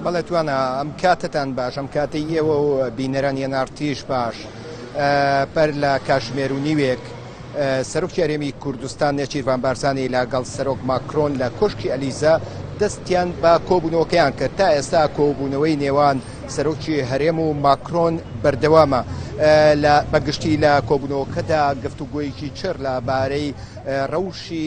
بەڵێ توانا ئەم کاتتان باش ئەم کاتی ئێوە و بینەران یەنارتیش باش پەر لە کاشمێر و نیوێک سەرۆکی هەرێمی کوردستان نێچیرڤان بارزانانی لەگەڵ سەرۆک ماکرۆن لە کۆشکی ئەلیزا دەستیان بە کۆبوونەوەکەیان کرد تا ئێستا کۆبوونەوەی نێوان سەرۆکی هەرێم و ماکرۆن بەردەوامە لە بەگشتی لە کۆبوونەوەکەدا گفتوگوۆیەکی چێر لە بارەی ڕەوشی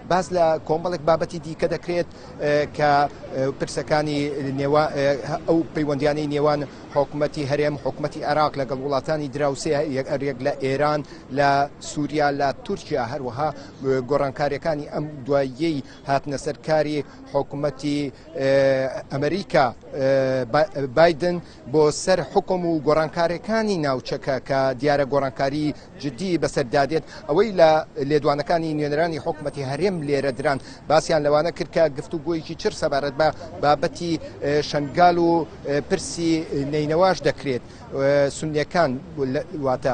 باس لە کۆمەڵێک بابەتی دیکە دەکرێت کە پرسەکانی نێوا ئەو پەیوەندیانەی نێوان حکوومەتی هەرێم حکوومەتی عراق لەگەڵ وڵاتانی دراوسێ یەکئەرێک لە ئێران لە سووریا لە تورکیا هەروەها گۆڕانکاریەکانی ئەم دواییەی هاتنە سەرکاری حکوومەتی ئەمریکا بادن بۆ سەر حوکم و گۆڕانکارێکانی ناوچەکە کە دیارە گۆڕانکاری جدی بەسەر دادێت ئەوەی لە لێدوانەکانی نوێنەرانی حکومەتی هەرێم لێرە دران باسیان لەوانە کرد کە گفت و گۆیکی چر سەبارەت بە بابەتی شنگال و پرسی نینەواش دەکرێت سنیەکان واتە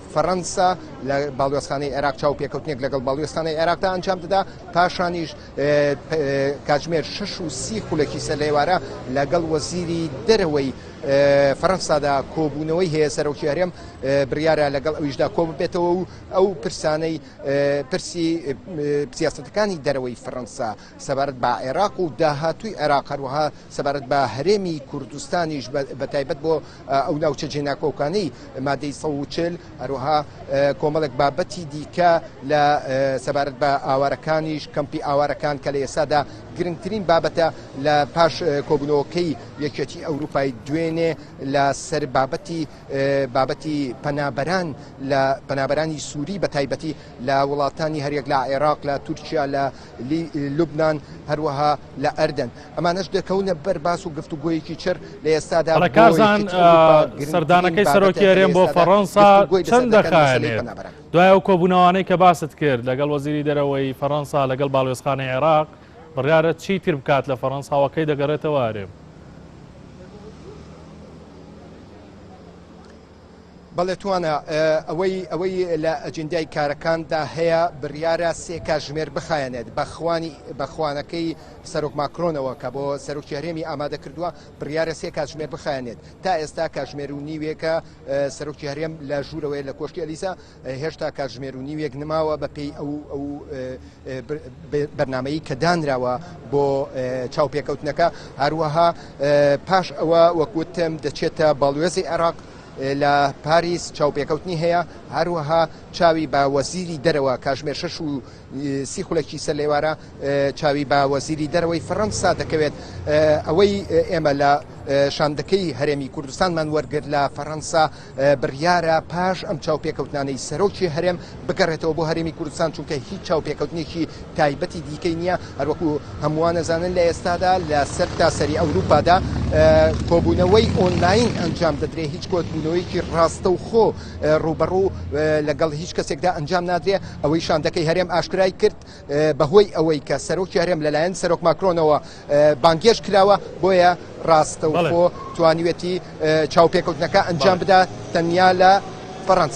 فەرەنسا لە باڵیۆزخانەی عێراق چاوپێکەوتنێک لەگەڵ باڵیۆزخانەی عێراقدا ئەنجام دەدا پاشانیش کاتژمێر 6 و سی خولەکی سەر لێوارە لەگەڵ وەزیری دەرەوەی فەرەنسادا کۆبوونەوەی هەیە سەرۆکی هەرێم بڕیارە لەگەڵ ئەویشدا کۆ ببێتەوە و ئەو پرسانەی پرسی سیاستەکانی دەرەوەی فەرەنسا سەبارەت بە عێراق و داهاتووی عێراق، هەروەها سەبارەت بە هەرێمی کوردستانیش بە تایبەت بۆ ئەو ناوچە جێناکۆکانەی مادەی سەد و چل، هەروەها کۆمەڵێک بابەتی دیکە لە سەبارەت بە ئاوارەکانیش، کەمپی ئاوارەکان کە لە ئێستادا گرنگترین بابەتە لە پاش کۆبوونەوەکەی یەکێتی ئەوروپای دوێنێ لە سەر بابەتی بابەتی پەنابەران لە پەنابەرانی سووری بە تایبەتی لە وڵاتانی هەریەک لە عێراق، لە تورکیا، لە لی لوبنان هەروەها لە ئەردەن ئەمانەش دەکەونە بەر باس و گفتوگۆیەکی چڕ لە ئێستادا بۆ کازان یەکێتی ئەوروپا گرنگترین سەردانەکەی بابەتە سەرۆکی کە لە هەرێم بۆ ئێستادا فەڕەنسا گفتوگۆی چەند لەسەر دەکەن مەسەلەی دەخایەنێت؟ پەنابەران. دوای ئەو کۆبوونەوانەی کە باست کرد لەگەڵ وەزیری دەرەوەی فەڕەنسا لەگەڵ باڵوێزخانەی عێراق بڕیارە چی تر بکات لە فەڕەنسا و کەی دەگەڕێتەوە هەرێم؟ بەڵێ توانا، ئەوەی ئەوەی لە ئەجندای کارەکاندا هەیە بڕیارە سێ کاژمێر بخایەنێت بە خوانی بە خوانەکەی سەرۆک ماکرۆنەوە کە بۆ سەرۆکی هەرێمی ئامادە کردووە بڕیارە سێ کاژمێر بخایەنێت تا ئێستا کاژمێر و نیوێکە سەرۆکی هەرێم لە ژوورەوەی لە کۆشکی ئەلیسا هێشتا کاتژمێر و نیوێک نماوە بەپێی ئەو ئەو بەرنمەیی کە دانراوە بۆ چاوپێکەوتنەکە هەروەها پاش ئەوە وەکوتم دەچێتە باڵوێزی عێراق لە پاریس چاوپێکەوتنی هەیە هەروەها چاوی بە وەزیری دەرەوە کاژمێر شش و سی خولەکی سەر لێوارە چاوی بە وەزیری دەرەوەی فەڕەنسا دەکەوێت ئەوەی ئێمە لە شاندەکەی هەرێمی کوردستانمان وەرگر لە فەڕەنسا بڕیارە پاش ئەم چاوپێکەوتنانەی سەرۆکی هەرێم بگەڕێتەوە بۆ هەرێمی کوردستان، چونکە هیچ چاوپێکەوتنێکی تایبەتی دیکەی نییە، هەروەکو هەمووان ئەزانن لە ئێستادا لە سەرتاسەری ئەوروپادا کۆبوونەوەی ئۆنلاین ئەنجام دەدرێت، هیچ کۆبوونەوەیەکی ڕاستەوخۆ ڕووبەڕوو لەگەڵ هیچ کەسێکدا ئەنجام نادرێت، ئەوەی شاندەکەی هەرێم ئاشکرای کرد بەهۆی ئەوەی کە سەرۆکی هەرێم لەلایەن سەرۆک ماکرۆنەوە. بانگهێشت کراوە، بۆیە ڕاستەوخۆ توانیوێتی چاوپێکەوتنەکە ئەنجام بدات تەنیا لە فەرەنسا.